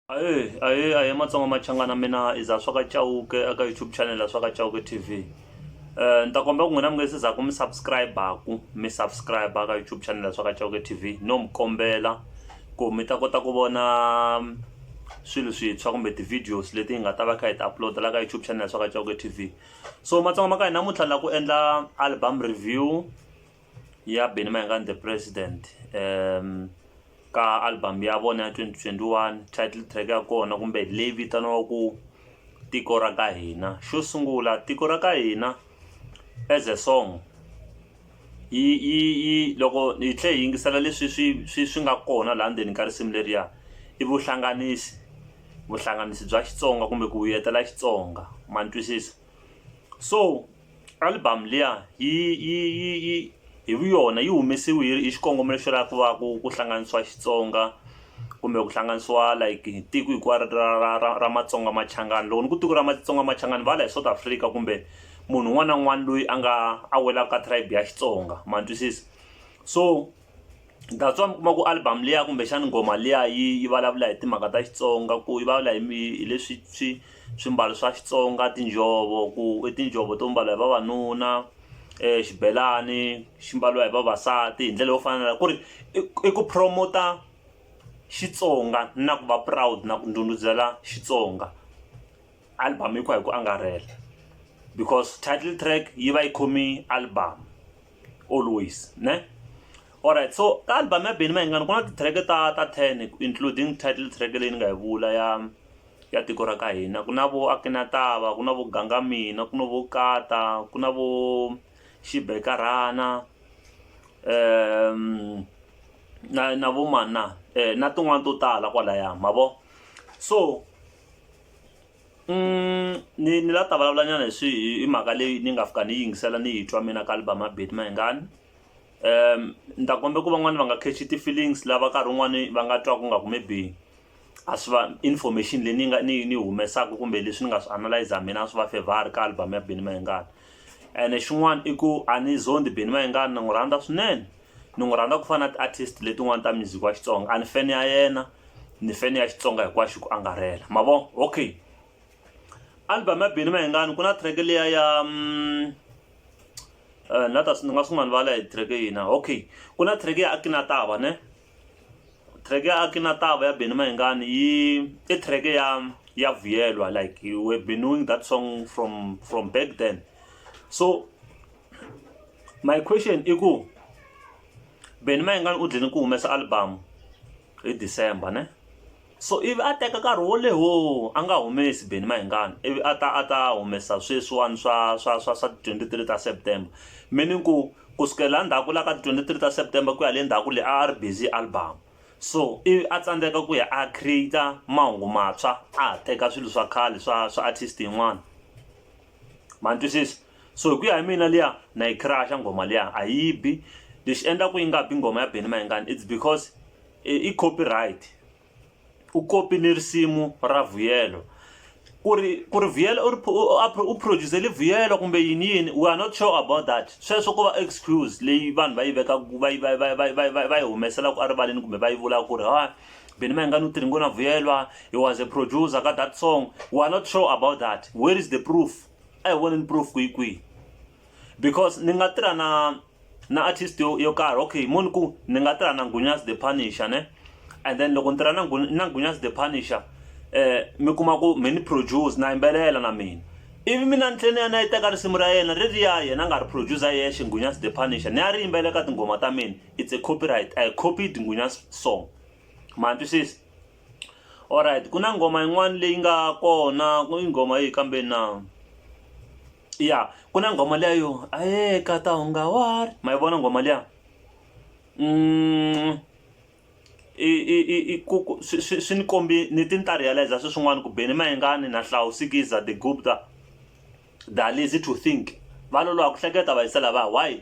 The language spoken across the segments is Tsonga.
Ahee ahee ahee matsonga machangana mina i za swa ka Chauke eka YouTube channel ya swa ka Chauke TV eh ni ta kombela ku n'wina mi nga se za ku mi subscribe-ku mi subscribe-a ka YouTube channel ya swa ka Chauke TV no mi kombela ku mi ta kota ku vona swilo swintshwa kumbe ti-videos leti hi nga ta va kha hi ti upload la ka YouTube channel ya swa ka Chauke TV so matsonga ma ka hi namuntlha la ku endla album review ya Benny Mayengani the president um ka album ya vona ya 2021 title track ya kona kumbe leyi vitaniwaku tiko ra ka hina xo sungula tiko ra ka hina as a song yi yi yi loko hi tlhe hi yingisela leswi swi swi swi nga kona laha ndzeni ka risimu leriya i vuhlanganisi vuhlanganisi bya Xitsonga kumbe ku vuyetela Xitsonga ma ni twisisa. so album liya yi yi yi yi hi vu yona yi humesiwe hi xikongomelo xo lava ku va ku ku hlanganisiwa Xitsonga kumbe ku hlanganisiwa like hi tiko hinkwaro ra ra ra ra Matsonga Machangani loko ni ku tiko ra Matsonga Machangani va la hi South Africa kumbe munhu un'wana na un'wana loyi a nga a welaka ka tribe ya Xitsonga ma twisisa so that's why mi kuma ku album liya kumbexani nghoma liya yi yi vulavula hi timhaka ta xitsonga ku yi vulavula hi hi leswi swi swimbalo swa xitsonga tinjhovo ku i tinjhovo to mbala hi vavanuna um xibelani xi mbaliwa hi vavasati hi ndlela yo fanela ku ri i ku promota xitsonga na ku va proud na ku ndhundhuzela xitsonga album yi ku hi ku angarhela because title track yi va yi khome album always ne alright so ka album ya beni mayingani ku na titrack ta ta ten including title track leyi ni nga yi vula ya ya tiko ra ka hina ku na vo akinatava ku na vo ganga mina ku na vo kata ku na vo xibekarhana um na na vo mana um na tin'wani to tala kwalaya ma vo so ni ni la ta vulavula nyana hi swi hi mhaka leyi ni nga fika ni yingisela ni yi twa mina ka album ya Betty Mayengani um ni ta kombe ku van'wani va nga catch ti feelings lava nkarhi wun'wani va nga twa ku nga ku maybe a swi va information leyi ni nga ni ni humesaka kumbe leswi ni nga swi analyzer mina a swi va favor ka album ya Benny Mayengani ene xin'wana i ku a ni zondi Benny Mayengani na n'wi rhandza swinene ni n'wi rhandza ku fana na ti-artist letin'wani ta music wa xitsonga a ni fene ya yena ni fene ya xitsonga hinkwaxo ku angarhela ma vo okay album ya bini mahingani ku na track leya ya um, uh, na ta ni nga sungula ni vala hi track yina okay ku na track ya akinatava ne track ya akinatava ya bini mahingani yi i track ya ya vuyelwa like you were been knowing that song from from back then so my question i ku Benny Mayengani u dlini ku humesa album hi December ne so ivi a teka nkarhi wo leho a nga humesi Benny Mayengani ivi a ta a ta humesa sweswiwani swa swa swa swa twenty three ta September meaning ku ku sukela ndzhaku la ka twenty three ta September ku ya le ndzhaku leyi a ri busy album so ivi a tsandzeka ku ya a create mahungu mantshwa a ha teka swilo swa khale swa swa artist yin'wana ma ni twisisa. so hi ku ya hi mina liya na yi crush nghoma liya a yi bi lexi endlaku yi nga bi nghoma ya Benny Mayengani it's because i copyright u copy ni risimu ra Vuyelo ku ri ku ri Vuyelo u ri u producer li Vuyelo kumbe yini yini we are not sure about that sweswo ko va excuse leyi vanhu va yi vekaka va yi va va va va va yi humeselaku erivaleni kumbe va yi vulaka ku ri ha Benny Mayengani u tirhi ngo na Vuyelwa he was a producer ka that song we are not sure about that where is the proof a hi voneni proof kwihi kwihi because ni nga tirha na na artist yo, yo karhi okay moni ku ni nga tirha na ngunyas the punisher ne and then loko ni tirha na, na ngunyas the punisher eh mi kuma ku mi ni produce na yimbelela na mina ivi mina ni tlhele ya na yi teka risimu ra yena ri ri ya yena a nga ri producer yexe ngunyas the punisher ni ya ri yimbelela ka tinghoma ta mina it's a copyright i copied ngunyas song ma twisisa alright ku na nghoma yin'wana leyi nga kona ku yi nghoma yihi kambe na ya ku na nghoma liya yo a ye ka ta hunga wa ri ma yi vona nghoma liya i i i i ku ku swi swi swi ni kombi ni ti ni ta realize-a swi swin'wana ku Benny Mayengani na Hlauw Sikiza The Gupta Da Lazy To Think va loloha ku hleketa va yisa lava why.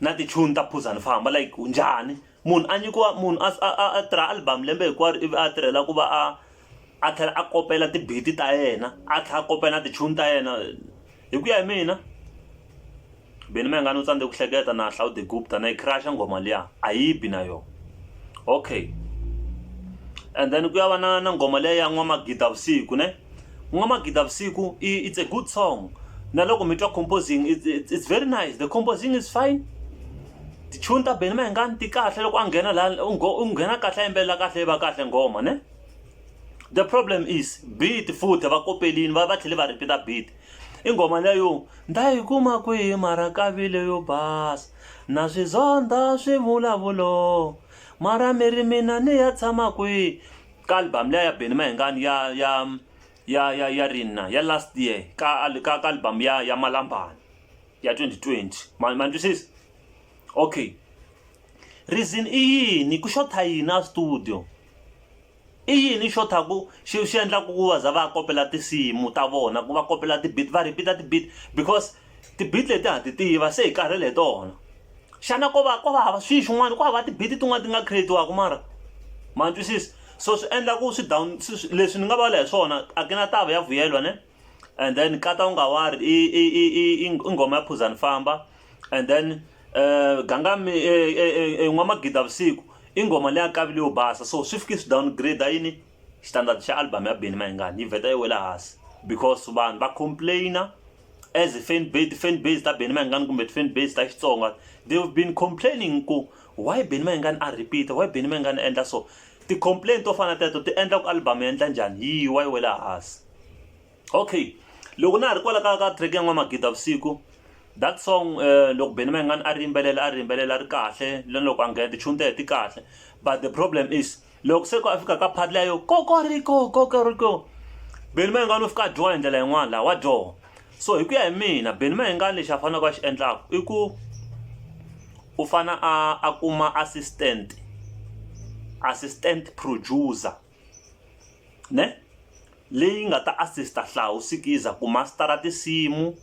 na tichuni ta phuzani famba like njhani munhu a nyikiwa munhu a a a tirha album lembe hinkwaro ivi a tirhela ku va a a tlhela a kopela tibiti ta yena a tlhela a kopela na tichuni ta yena hi ku ya hi mina beni ma nga ni u tsandze ku hleketa na hlawu the gupta na yi crash nghoma liya a yi bi na yona okay and then ku ya va na na nghoma leyi ya n'wamagida vusiku ne N'wamagida Vusiku it's a good song na loko mi twa composing it's, it's, it's very nice the composing is fine tichuni ta Benny Mayengani ti kahle loko a nghena la u nghena kahle a yimbelela kahle yi va kahle nghoma ne the problem is beat futhi va kopelini va va tlhele va repeat-a beat i nghoma leyo nda yi kuma kwihi mara kavile yo basa na swizondha swivulavulo mara mi ri mina ni ya tshama kwihi ka album leya ya Benny Mayengani ya ya ya ya ya Rinna ya last year ka ka ka album ya ya Malambani ya 2020 ma ma twisisa okay reason i yini ku xotha yini a studio i yini xo tha ku xi xi endla ku va za va kopela tinsimu ta vona ku va kopela ti-beat va repeat-a ti-beat because Ti-beat leti ha ti tiva se hi karhele hi tona xana ko va ko va hava swi swin'wana ku hava ti-beat tin'wana ti nga create-iwaka mara ma twisisa so swi endla ku swi down leswi ni nga vula hi swona a ku na tava ya vuyelwa ne and then nkata wu nga wari i i i i i nghoma ya phuzani famba and then ganga mi n'wamagida vusiku i nghoma leyi ya kavile yo basa so swi fike swi downgrade yini. xitandati xa album ya Benny Mayengani yi vheta yi wela hansi because vanhu va complainer as fan base ti-fan base ta Benny Mayengani kumbe ti-fan base ta Xitsonga they've been complaining ku why Benny Mayengani a repeat why Benny Mayengani a endla so ti-complain to fana teto ti endla ku album yi endla njhani yi wa yi wela hansi okay loko na ha ri kwala ka ka track ya n'wamagidi vusiku that song eh, loko Benny Mayengani a ri yimbelela a ri yimbelela ri kahle loko a nghena tichuni ta yena ti kahle but the problem is loko se ku a fika ka phati liya yo kokoriko kokoriko beni ma yingani u fika a dyoha hi ndlela yin'wana laha wa dyoha so hi ku ya hi mina beni ma yingani lexi a faneleke a xi endlaka i ku u fana a a kuma assistant assistant producer ne leyi nga ta assist hlawusikiza ku mastara tinsimu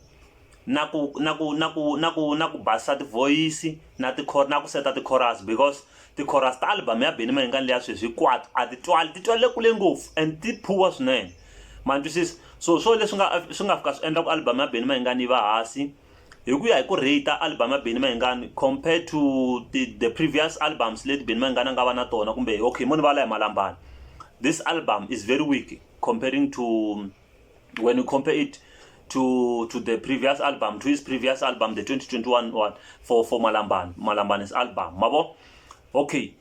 na ku na ku na ku na ku na ku basisa tivhoyisi na ti na ku seta ti-chorus because ti-chorus ta album ya Benny Mayengani leya sweswi hinkwato a ti twali ti twale kule ngopfu and ti poor swinene ma twisisa so swo leswi nga swi nga fika swi endla ku album ya Benny Mayengani yi va hansi hi ku ya hi ku rate album ya Benny Mayengani compared to the, the previous albums leti Benny Mayengani a nga va na tona kumbe okay mo ni va la hi malambani this album is very weak comparing to when you compare it to to the previous album to his previous album the 2021 one for for Malamban Malamban's album mabo okay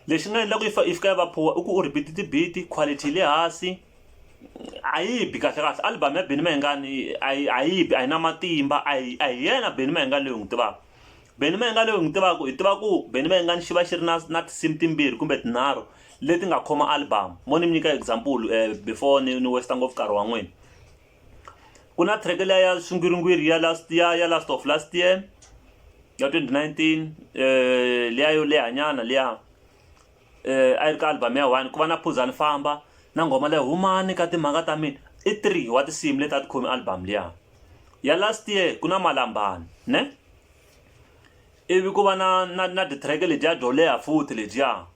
lexi nga endla ku ifa ifika va phuwa i ku u repeat tibiti quality le hansi a yi bi kahle kahle album ya Benny Mayengani a yi a yi bi a yi na matimba a yi a yi yena Benny Mayengani leyi n'wi tivaka Benny Mayengani leyi n'wi tivaka hi tiva ku Benny Mayengani xi va xi ri na na tinsimu timbirhi kumbe tinharhu leti nga khoma album mo ni mi nyika example um before ni ni westa ngopfu nkarhi wa n'wina ku na track leya ya swingwiringwiri ya last ya ya last of last year ya 2019 um eh, leya yo lehanyana leya um eh, a yi ri ka album ya one ku va na phuzani famba na nghoma leyi humani ka timhaka ta mina i three wa tinsimu leti a ti khomi album leya ya last year ku na malambani ne ivi ku va na na na titrack ledyiya byo leha futhi ledyiya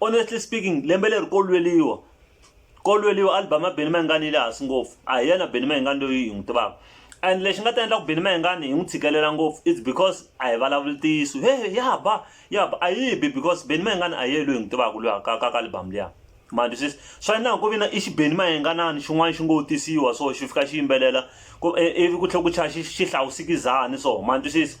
honestly speaking lembe leri ko lweliwa ko lweliwa album ya Benny Mayengani yi le hansi ngopfu a hi yena Benny Mayengani loyi hi n'wi tivaka and lexi nga ta endla ku Benny Mayengani hi n'wi tshikelela ngopfu it's because a hi vulavuli ntiyiso he ya ba ya ba a yi bi because Benny Mayengani a yi loyi hi n'wi tivaka loyi ka ka ka album liya manje sweswi swa na ku vina i xibeni mayenganani xin'wana xi ngo tisiwa so xi fika xi yimbelela ku ivi ku tlhela ku chaya xi xi hlawusikizani so manje sweswi